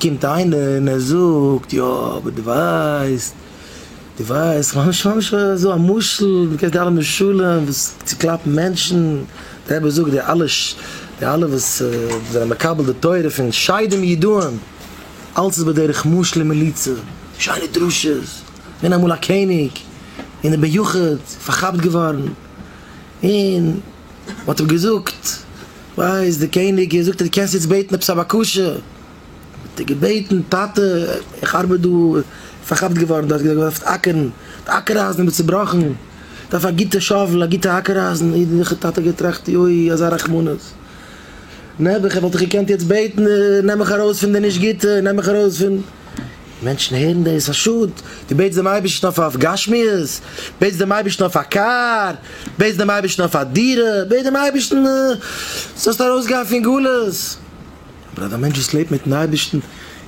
קומט איינער און ער זאגט, יא, אבער דו ווייסט, דו ווייסט, כ'מיין נישט, כ'מיין נישט אזוי, א משל, דו קענסט די אלע משלים וואס צוקלאפן מענטשן, דער רבי זאגט, די אלע, די אלע וואס זענען מקבל די תורה פון שדים ידועים, אלץ איז בדרך משל און מליצה, שיינע דרשות, געווען אמאל א קעניג, און איז ביחוד פארכאפט געווארן, און. מען האט אים געזאגט, ווייסט, דער קעניג און זאגט אז דו קענסט יעצט בעטן עפעס א בקשה, האט ער געבעטן, טאטע, איך ארבעט דא, פארכאפט געווארן דארט, געווען אויף אקערן, די האקער אייזן איז מיר צובראכן, איך דארף א גוטע שאוול, א גוטע האקער אייזן, אידעלעכע טאטע האט געטראכט, יוי, אזא רחמנות, נעבעך, וואלט איך געקענט יעצט בעטן, נעם מיך ארויס פון די נישט גוטע, נעם מיך ארויס פון. מענטשן הערן דאס, א שאד, דו בעטסט דעם אייבערשטן אויף אויף גשמיות, בעטסט דעם אייבערשטן אויף א קאר, בעטסט דעם אייבערשטן אויף א דירה, בעט דעם אייבערשטן זאלסט ארויסגיין פון גלות, אבער אז א מענטש וואס לעבט מיטן אייבערשטן,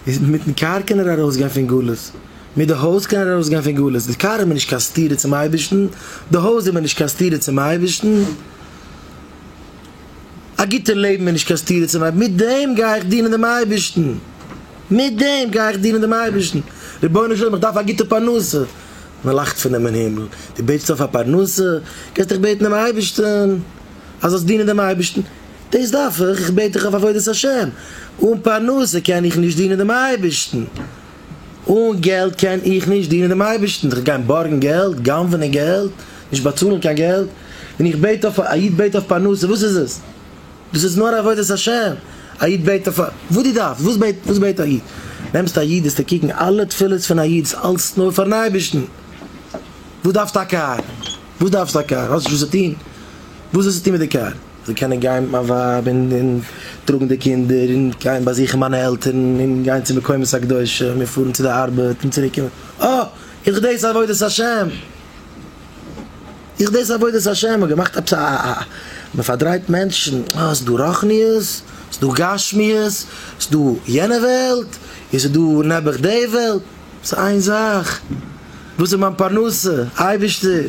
איז מיטן קאר קען ער ארויסגיין פון גלות, מיט די הויז קען ער ארויסגיין פון גלות, די קאר איז מיר נישט קיין סתירה צום אייבערשטן, די הויז איז מיר נישט קיין סתירה צום אייבערשטן. א גוטע לעבן איז נישט קיין סתירה צום אייבערשטן, מיט דעם גיי איך דינען דעם אייבערשטן, מיט דעם גיי איך דינען דעם אייבערשטן, רבונו של עולם איך דארף א גוטע פרנסה, מען לאכט פון דעם אין הימל, דו בעטסט אויף א פרנסה, גייסט דיך בעטן דעם אייבערשטן אז זאלסט דינען דעם אייבערשטן, דאס דארף איך, איך בעט דיך אויף עבודת השם, אן פרנסה קען איך נישט דינען דעם אייבערשטן. אן געלט קען איך נישט דינען דעם אייבערשטן, זיך גיין בארגן געלט, גנב'נען געלט, נישט באצאלן קיין געלט, און איך בעט אויף, א איד בעט אויף פרנסה, וואס איז עס? דאס איז נאר עבודת השם, א איד בעט אויף, וואס דו דארפסט, וואס בעט, וואס בעט א איד? נעמסט א איד וועסטו קוקן אלע תפילות פון א איד איז אלס נאר פארן אייבערשטן, וואס דארפסטו א קאר, וואס דארפסטו א קאר, האסט נישט וואס צו טון, וואס וועסטו טון מיט די קאר? זיי קענען גיין מיט מיין ווייב און טראגן די קינדער און גיין באזוכן מיינע עלטערן און גיין צו מקומות הקדושים און פארן צו די ארבעט און צוריק קומען, אה! איז דאס עבודת השם? איז דאס עבודת השם? מ'האט געמאכט עפעס א א מ'פארדרייט מענטשן, אה ס'דא רוחניות? ס'דא גשמיות? ס'דא יענע וועלט? און ס'דא נעבעך די וועלט? ס'איז איין זאך, וואס איז מיין פרנסה? אייבערשטער!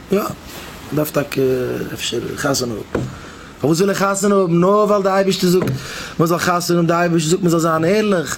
יא, מ'דארף טאקע אפשר חתונה האבן. פארוואס זאל איך חתונה האבן? נאר ווייל די אייבערשטער זאגט מ'זאל חתונה האבן, די אייבערשטער זאגט מ'זאל זיין ערליך.